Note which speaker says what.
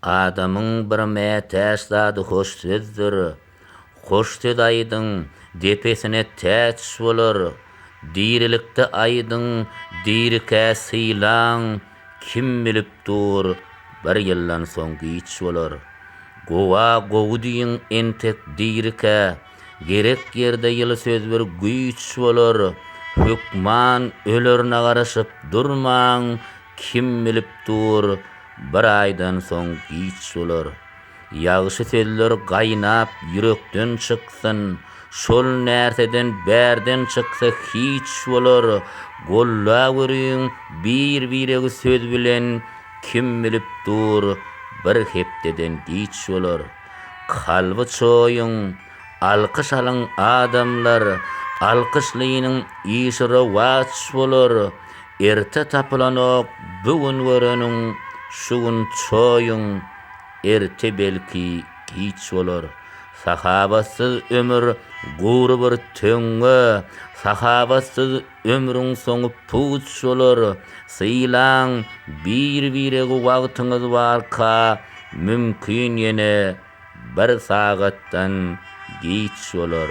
Speaker 1: Adamyň bir mätäç zady hoş sözdür. Hoş söz aýdyň, depesine täç bolar. Dirilikde aýdyň, dirikä sylaň, kim bilip dur, bir ýyldan soň giç bolar. Gowa gowy diýiň entek dirikä. Gerek ýerde ýyly söz bir güýç bolar. Hökman ölerine garaşyp durmaň, kim bilip dur, bir aýdan soň giç bolar. Ýagşy sözler gaýnap ýürekden çyksyn, şol närseden bärden çyksa hiç bolar. Golla görüň bir-biregi söz bilen, kim bilip dur, bir hepdeden giç bolar. Kalby çoýuň, alkyş alyň adamlar, Alkyşlynyň işi rowaç bolar. Erte tapylanok bu gün göreniň, Şu gün çoýuň, erte belki giç bolar. Sahabatsyz ömür gury bir töňňe, Sahabatsyz Ömrüň soňup puç bolar. Sylaň bir-biregi wagtyňyz barka mümkin ýene bir sagatdan giç bolar.